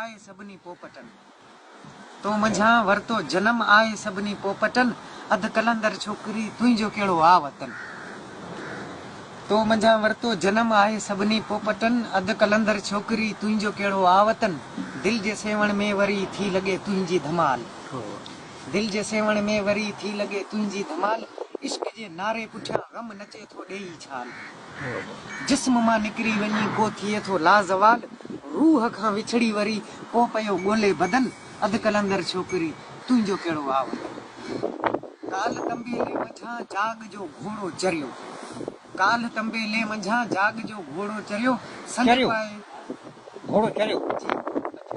آء سڀني پوپٽن تو منجهان ورتو جنم آء سڀني پوپٽن اڌ قلندر ڇوڪري تنهنجو ڪهڙو آ وطن تو منجهان ورتو جنم آء سڀني پوپٽن اڌ قلندر ڇوڪري تنهنجو ڪهڙو آ وطن دل جي سيوهڻ ۾ وري ٿي لڳي تنهنجي ڌمال دل جي سيوهڻ ۾ وري ٿي لڳي تنهنجي ڌمال عشق جي نعري پٺيان غم نچي ٿو ڏيئي ڇال. جسم مان نڪري وڃي ڪو ٿئي ٿو لازوال روح کان وڇڙي وري ڪو پيو ڳولي بدل اڌ قلندر ڇوڪري تنهنجو ڪهڙو آ وطن ڪالهه تنبيلي منجهان جاڳ جو گهوڙو چريو ڪالهه تنبيلي منجهان جاڳ جو گهوڙو چريو سنڌ پائي گهوڙو چريو جي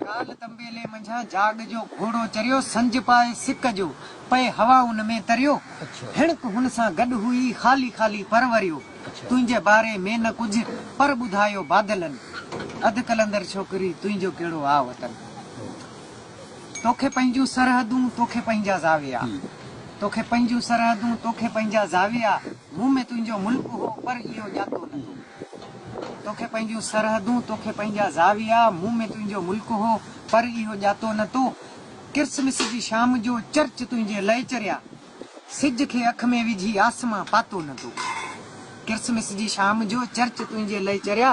ڪالهه تنبيلي منجهان جاڳ جو گهوڙو چريو سنج پائي سڪ جو. پئي هوا ان ۾ تريو. هيڻڪ هن سان گڏ هئي خالي خالي پر وريو. تنهنجي باري ۾ نه ڪجهه پر ٻڌايو بادلن. اڌ قلندر ڇوڪري تنهنجو ڪهڙو آ وطن. توکي پنهنجون سرحدون توکي پنهنجا زاويا. توکي پنهنجون سرحدون توکي پنهنجا زاويا. مون ۾ تنهنجو ملڪ هو پر اهو ڄاتو نه تو. توکي پنهنجون سرحدون توکي پنهنجا زاويا. مون ۾ تنهنجو ملڪ هو پر اهو ڄاتو نه تو. ڪرسمس جي شام جو چرچ تنهنجي لئه چريا سج کي اک ۾ وجهي آسمان پاتو نه تو ڪرسمس جي شام جو چرچ تنهنجي لئه چريا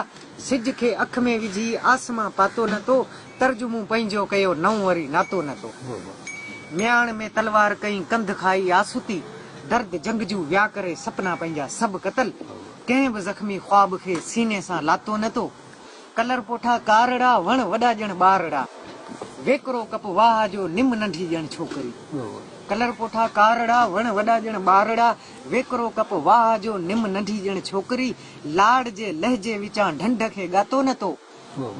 سج کي اک ۾ وجهي آسمان پاتو نه تو ترج مون پنهنجو ڪيو نئون وري ناتو نه تو مياڻ ۾ تلوار ڪئين ڪنڌ کائي آسوتي درد جنگ جون ويا ڪري سپنا پنهنجا سڀ قتل ڪنهن به زخمي خواب کي سيني سان لاتو نه تو. ڪلر پوٺا ڪارڙا، وڻ وڏا ڄڻ ٻارڙا، ويڪرو ڪپ واهه جو، نم ننڍي ڄڻ ڇوڪري. ڪلر پوٺا ڪارڙا، وڻ وڏا ڄڻ ٻارڙا، ويڪرو ڪپ واهه جو، نم ننڍي ڄڻ ڇوڪري. لاڙ جي لهجي وچان ڍنڍ کي ڳاتو نه تو،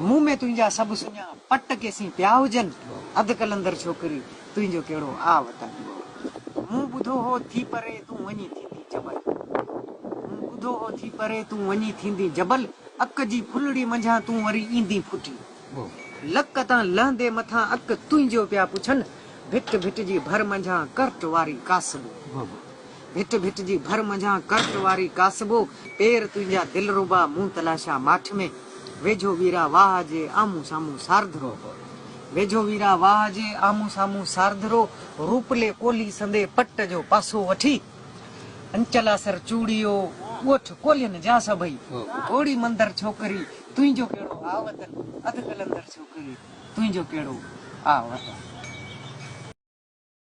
مون ۾ تنهنجا سڀ سڃا، پٽ ڪيسين پيا هجن، اڌ قلندر ڇوڪري. تنهنجو ڪهڙو آ وطن هو مون ٻڌو هو ٿي پري تون وڃي ٿيندين جبل مون ٻڌو هو ٿي پري تون وڃي ٿيندين جبل اڪ جي ڦلڙي منجهان تون وري ايندين ڦٽي لڪ تان لهندي مٿان اڪ تنهنجو پيا پڇن ڀٽ ڀٽ جي ڀر منجهان ڪرٽ واري ڪاسٻو. ڀٽ ڀٽ جي ڀر منجهان ڪرٽ واري ڪاسبو پير تنهنجا دلربا مون تلاشا ماٺ ۾ ويجهو ويرا واهه جي آمهون سامهون سارڌرو هو ويجهو ويرا واهه جي آمهون سامهون سارڌرو روپلي ڪولهي سندي پٽ جو پاسو وٺي انچلا سر چوڙيو ڳوٺ ڪولهين جا سڀئي گهوڙي مندر ڇوڪري تنهنجو ڪهڙو آ وطن اڌ قلندر ڇوڪري تنهنجو ڪهڙو آ وطن.